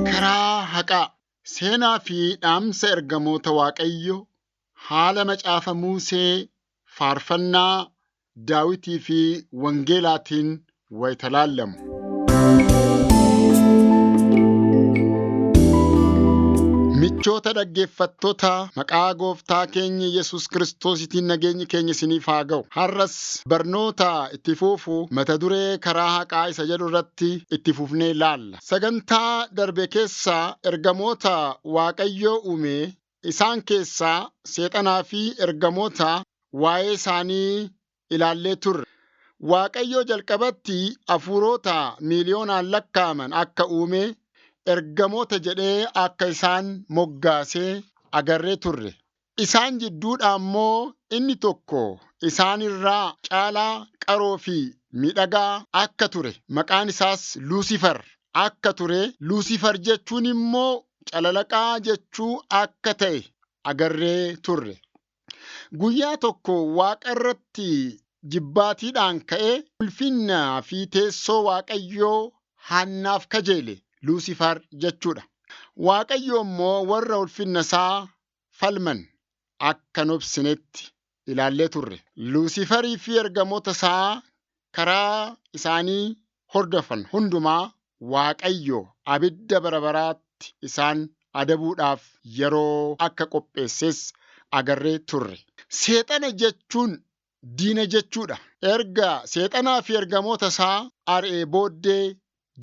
Karaa haqaa seenaa fi dhaamsa ergamoota Waaqayyo haala macaafa Musee, faarfannaa Daawitii fi wangeelaatiin wayita laallamu. Michoota dhaggeeffattoota maqaa gooftaa keenya Yesuus Kiristoositiin nageenyi keenya isiniif haa ga'u. Har'as barnoota itti fufu mata duree karaa haqaa isa jedhu irratti itti fufnee laalla. Sagantaa darbe keessaa ergamoota Waaqayyoo uume isaan keessaa seexanaa fi ergamoota waa'ee isaanii ilaallee turre. Waaqayyo jalqabatti hafuurota miiliyoonaan lakkaa'aman akka uume, ergamoota jedhee akka isaan moggaase agarree turre. Isaan jidduudhaa immoo inni tokko isaan irraa caalaa qaroo fi miidhagaa akka ture, maqaan isaas Luusifar akka ture, Luusifar jechuun immoo calalaqaa jechuu akka ta'e agarree turre. Guyyaa tokko Waaqa irratti jibbaatiidhaan ka'ee ulfinnaa fi teessoo Waaqayyoo Haannaaf kajeele, Luusifaar jechuudha. Waaqayyo immoo warra ulfinna isaa falman akka hin obsinetti ilaallee turre. Luusifarii fi ergamoota isaa karaa isaanii hordofan hundumaa Waaqayyo abidda bara baraatti isaan adabuudhaaf yeroo akka qopheesses agarree turre. Seexana jechuun diina jechuudha. Erga Seexanaa fi ergamoota isaa ari'ee booddee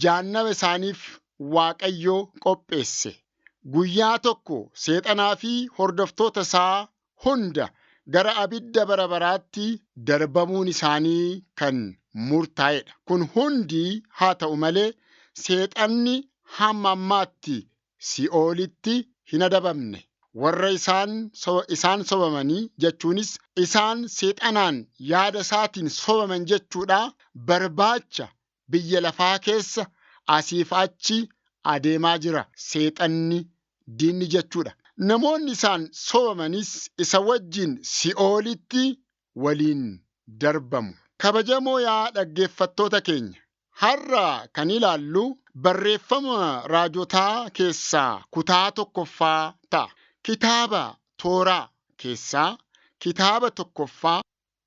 Jahannama isaaniif Waaqayyo qopheesse. Guyyaa tokko Seexanaa fi hordoftoota isaa hunda gara abidda bara baraatti darbamuun isaanii kan murtaa'e dha. Kun hundi haa ta'u malee, Seexanni hamma ammaatti Si'oolitti hin adabamne. Warra isaan, isaan sobamanii, jechuunis isaan Seexanaan yaada isaatiin sobaman jechuudha, barbaacha biyya lafaa keessa asiif achi adeemaa jira. Seexanni, diinni jechuu dha. Namoonni isaan sobamanis isa wajjin si'oolitti waliin darbamu. Kabajamoo yaa dhaggeeffattoota keenya, har'a kan ilaallu barreeffama raajotaa keessaa kutaa tokkoffaa ta'a. Kitaaba Tooraa keessaa kitaaba tokkoffaa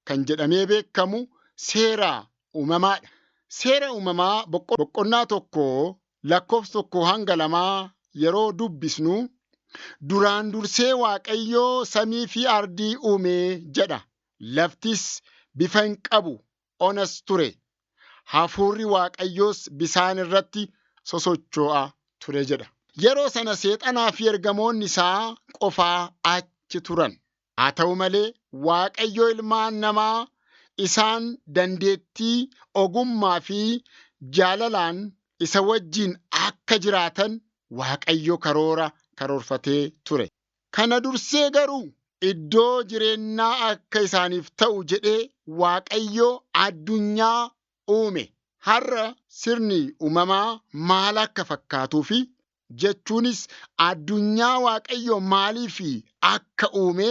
kan jedhamee beekamu seera uumamaadha. Seera uumamaa boqonnaa tokko lakkoofsa tokko hanga lamaa yeroo dubbisnu duraan dursee Waaqayyoo samii fi ardii uume jedha. Laftis bifa hin qabu, onas ture. Hafuurri Waaqayyoos bisaan irratti sosochoo'a ture jedha. Yeroo sana seexanaa fi ergamoonni isaa qofaa achi turan. Haa ta'u malee, Waaqayyo ilmaan namaa isaan dandeettii, ogummaa fi jaalalaan isa wajjin akka jiraatan Waaqayyo karoora karoorfatee ture. Kana dursee garuu, iddoo jireennaa akka isaaniif ta'u jedhee Waaqayyo addunyaa uume. Har'a sirni uumamaa maal akka fakkaatuu fi jechuunis addunyaa Waaqayyo maaliif akka uume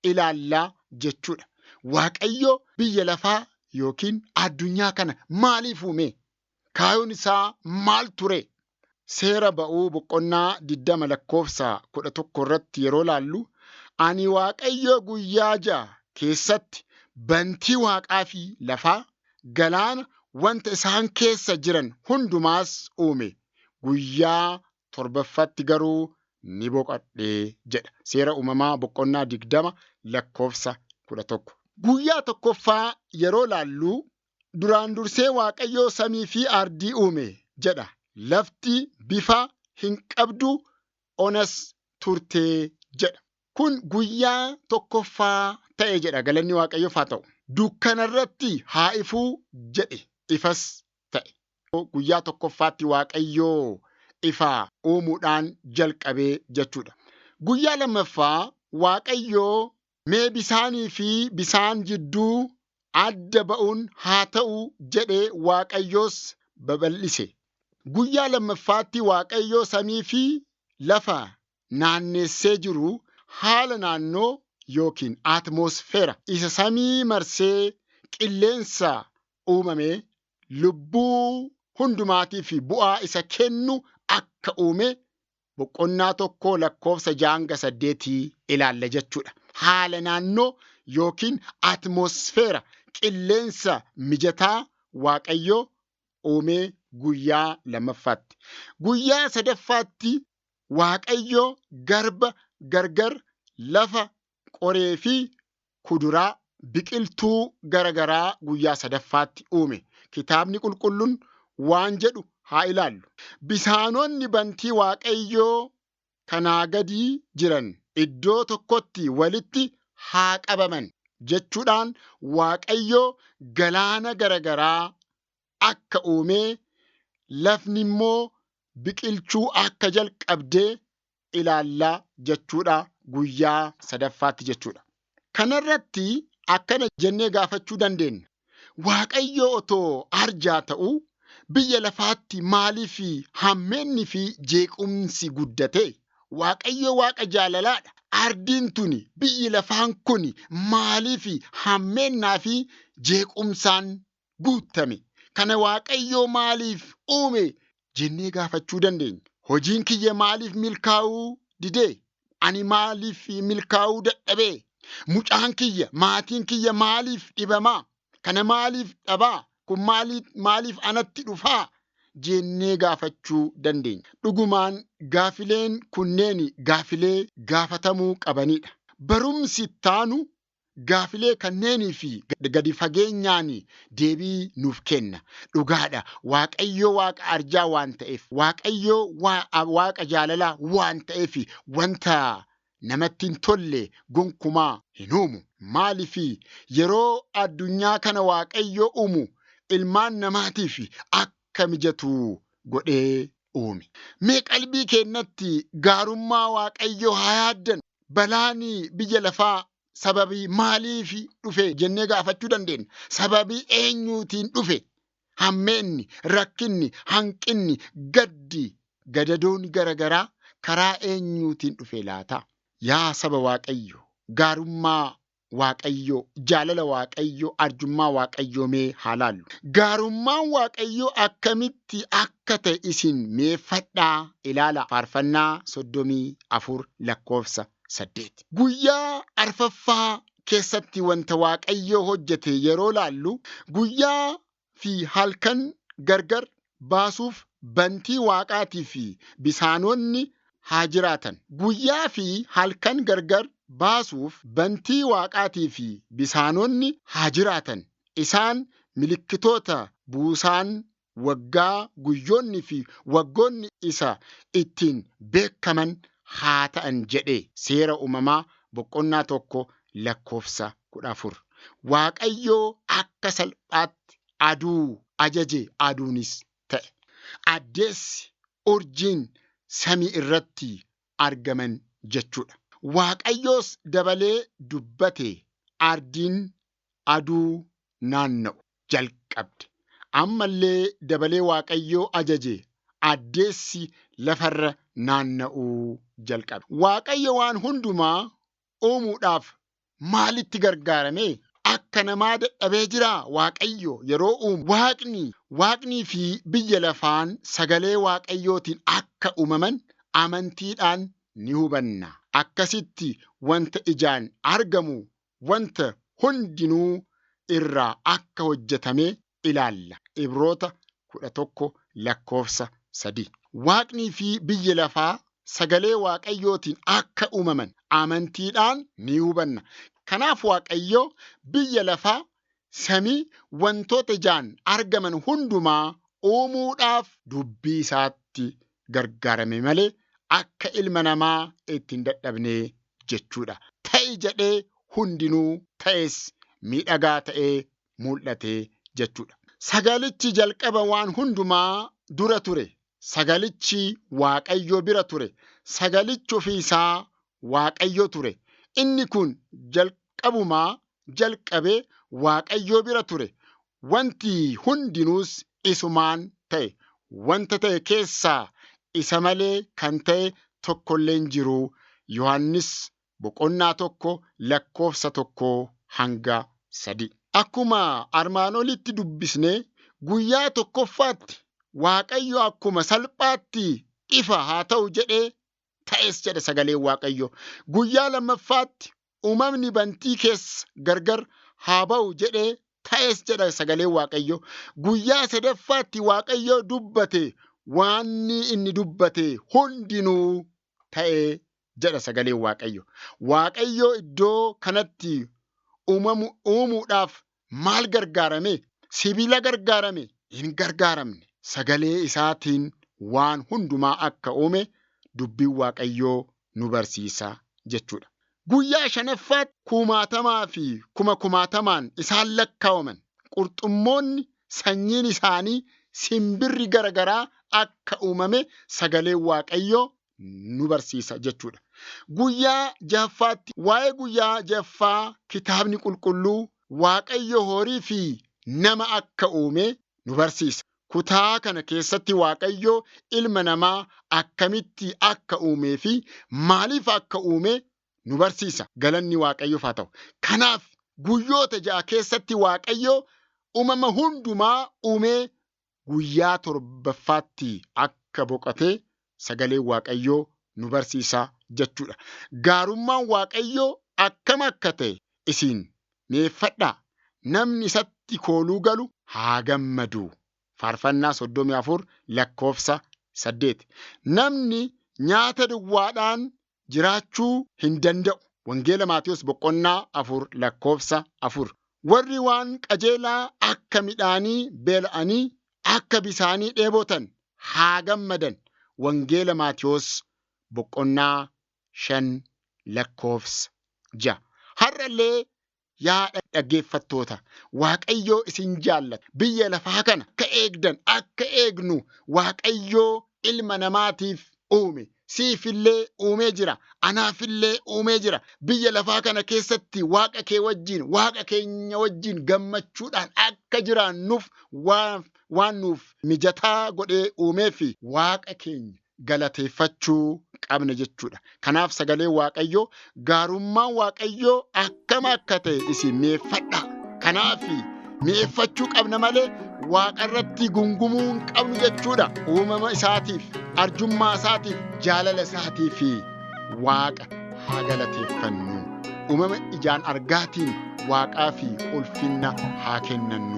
ilaalla jechuudha. Waaqayyo biyya lafaa yookiin addunyaa kana maaliif uume? Kaayoon isaa maal ture? Seera ba'uu boqonnaa 20 lakkoofsa 11 irratti yeroo laallu, ani Waaqayyo guyyaa ja'a keessatti bantii waaqaa fi lafaa, galaana, wanta isaan keessa jiran hundumaas uume guyyaa torbaffaatti garuu ni boqadhe jedha. Seera Uumamaa boqonnaa 20 lakkoofsa 11. Guyyaa tokkoffaa yeroo laallu duraan dursee Waaqayyoo samii fi ardii uume jedha. Lafti bifa hin qabdu onas turte jedha. Kun guyyaa tokkoffaa ta'e jedha galanni Waaqayyoof haa ta'u. Dukkana irratti haa ifuu jedhe ifas ta'e. Guyyaa tokkoffaatti Waaqayyoo ifa uumuudhaan jalqabee jechuudha. Guyyaa lammaffaa Waaqayyoo mee bisaanii fi bisaan jidduu adda ba'uun haa ta'u jedhe Waaqayyoos babal'ise. Guyyaa lammaffaatti Waaqayyoo samii fi lafa naanneessee jiru haala naannoo yookiin atmoosfeera isa samii marsee qilleensa uumame lubbuu hundumaatiif bu'aa isa kennu akka uume boqonnaa tokkoo lakkoofsa jaanga saddeetii ilaalla jechuudha. Haala naannoo yookiin atmosfeera qilleensa mijataa Waaqayyo uumee guyyaa lammaffaatti. Guyyaa sadaffaatti Waaqayyo garba gargar lafa qoree fi kuduraa, biqiltuu gara garaa guyyaa sadaffaatti uume. Kitaabni Qulqullun waan jedhu haa ilaallu. Bisaanonni bantii Waaqayyoo kanaa gadii jiran iddoo tokkotti walitti haa qabaman jechuudhaan Waaqayyo galaana gara garaa akka uumee lafni immoo biqilchuu akka jalqabde ilaalla jechuudha guyyaa sadaffaatti jechuudha. Kanarratti akkana jennee gaafachuu dandeenya. Waaqayyo otoo arjaa ta'u biyya lafaatti maaliif hammeenni fi jeequmsi guddate? Waaqayyo waaqa jaalalaadha. Ardiin tuni biyyi lafaan kun maaliif hammeennaa fi jeequmsaan guuttame kana Waaqayyoo maaliif uume jennee gaafachuu dandeenya. Hojiin kiyya maaliif milkaa'uu didee? Ani maaliif milkaa'uu dadhabee? Mucaan kiyya, maatiin kiyya maaliif dhibamaa? Kana maaliif dhabaa? Kun maaliif anatti dhufaa? jennee gaafachuu dandeenya. Dhugumaan gaafileen kunneen gaafilee gaafatamuu qabanidha. Barumsi ittaanu Gaafilee kanneenii fi gadi fageenyaan deebii nuuf kenna. Dhugaa dha, Waaqayyo Waaqa arjaa waan ta'eef, Waaqayyo Waaqa jaalalaa waan ta'eef wanta namatti hin tolle gonkumaa hin uumu. Maaliif? Yeroo addunyaa kana Waaqayyo uumu ilmaan namaatiif akka mijatu godhee uume. Mee qalbii keenyatti gaarummaa Waaqayyoo haa yaaddannu. Balaan biyya lafaa sababii maaliif dhufe jennee gaafachuu dandeenya. Sababii eenyuutiin dhufe? Hammeenni, rakkinni, hanqinni, gaddi, gadadoon gara garaa karaa eenyuutiin dhufe laata? Yaa saba Waaqayyoo, gaarummaa Waaqayyoo, jaalala Waaqayyoo, arjummaa Waaqayyoo mee haa laallu. Gaarummaan Waaqayyoo akkamitti akka ta'e isin meeffadhaa ilaala faarfannaa 34 lakkoofsa 8. Guyyaa arfaffaa keessatti wanta Waaqayyoo hojjete yeroo laallu guyyaa fi halkan gargar baasuuf bantii waaqaatii fi bisaanoonni haa jiraatan. Guyyaa fi halkan gargar baasuuf bantii waaqaatii fi bisaanoonni haa jiraatan. Isaan milikkitoota buusaan waggaa, guyyoonni fi waggoonni isa ittiin beekkaman haa ta'an jedhe. Seera Uumamaa boqonnaa 1 lakkoofsa 14. Waaqayyo akka salphaatti aduu ajaje aduunis ta'e. Addeessi, urjiin samii irratti argaman jechuudha. Waaqayyoos dabalee dubbate ardiin aduu naanna'u jalqabde. Ammallee dabalee Waaqayyoo ajaje addeessi lafarra naanna'uu jalqabe. Waaqayyo waan hundumaa uumuudhaaf maalitti gargaarame? Akka namaa dadhabee jiraa Waaqayyo yeroo uumu? Waaqni, waaqnii fi biyya lafaan sagalee Waaqayyootiin akka uumaman amantiidhaan ni hubanna. Akkasitti wanta ijaan argamu wanta hundinuu irraa akka hojjetame ilaalla, Ibroota 11 lakkoofsa 3. Waaqnii fi biyyi lafaa sagalee Waaqayyootiin akka uumaman amantiidhaan ni hubanna. Kanaaf Waaqayyo biyya lafaa, samii, wantoota ijaan argaman hundumaa uumuudhaaf dubbii isaatti gargaarame malee akka ilma namaa itti hin dadhabne jechuudha. Ta'i jedhee hundinuu ta'es, miidhagaa ta'ee mul'ate jechuudha. Sagalichi jalqaba waan hundumaa dura ture. Sagalichi Waaqayyo bira ture. Sagalichi ofii isaa Waaqayyo ture. Inni kun jalqabumaa jalqabe Waaqayyo bira ture. Wanti hundinuus isumaan ta'e. Wanta ta'e keessaa isa malee kan ta'e tokkollee hin jiru. Yohaannis boqonnaa 1 lakkoofsa 1 hanga 3. Akkuma armaan olitti dubbisne guyyaa tokkoffaatti Waaqayyo akkuma salphaatti ifa haa ta'u jedhee ta'es jedha sagaleen Waaqayyo. Guyyaa lammaffaatti uumamni bantii keessa gargar haa ba'u jedhee ta'es jedha sagaleen Waaqayyo. Guyyaa sadaffaatti Waaqayyo dubbate waanni inni dubbate hundinuu ta'ee jedha sagaleen Waaqayyo. Waaqayyo iddoo kanatti uumamu uumuudhaaf maal gargaarame? Sibiila gargaarame? Hin gargaaramne. Sagalee isaatiin waan hundumaa akka uume dubbiin Waaqayyoo nu barsiisa jechuudha. Guyyaa shanaffaatti kumaatamaa fi kuma kumaatamaan isaan lakkaawaman qurxummoonni sanyiin isaanii simbirri garagaraa akka uumame sagaleen Waaqayyoo nu barsiisa jechuudha. Guyyaa jahaffaatti waa'ee guyyaa jahaffaa kitaabni qulqulluu Waaqayyo horii fi nama akka uume nu barsiisa. Kutaa kana keessatti Waaqayyo ilma namaa akkamitti akka uumee fi maaliif akka uume nu barsiisa. Galanni Waaqayyoof haa ta'u. Kanaaf guyyoota ja'a keessatti Waaqayyo uumama hundumaa uumee guyyaa torbaffaatti akka boqate sagaleen Waaqayyoo nu barsiisa jechuudha. Gaarummaan Waaqayyoo akkam akka ta'e isin mi'eeffadhaa, namni isatti kooluu galu haa gammadu. Faarfannaa 34 lakkoofsa 8. Namni nyaata duwwaadhaan jiraachuu hin danda'u. Wangeela Maatewos boqonnaa 4 lakkoofsa 4. Warri waan qajeelaa akka midhaanii beela'anii akka bisaanii dheebotan haa gammadan. Wangeela Maatewos boqonnaa 5 lakkoofsa 6. Har'allee Yaa dhaggeeffattoota, Waaqayyoo isin jaallata. Biyya lafaa kana akka eegdan, akka eegnu Waaqayyoo ilma namaatiif uume. Siifillee uumee jira. Anaafillee uumee jira. Biyya lafaa kana keessatti Waaqa kee wajjin, Waaqa keenya wajjin gammachuudhaan akka jiraannuuf waan, waan nuuf mijataa godhee uumeefi. Waaqa keenya galateeffachuu qabna jechuudha. Kanaaf sagalee Waaqayyoo gaarummaan Waaqayyoo akkam akka ta'e isin mi'eeffadha. Kanaaf mi'eeffachuu qabna malee waaqa irratti gungumuu hin qabnu jechuudha. Uumama isaatiif, arjummaa isaatiif, jaalala isaatiif waaqa haa galateeffannu. Uumama ijaan argaatiin waaqaa fi ulfinna haa kennannu.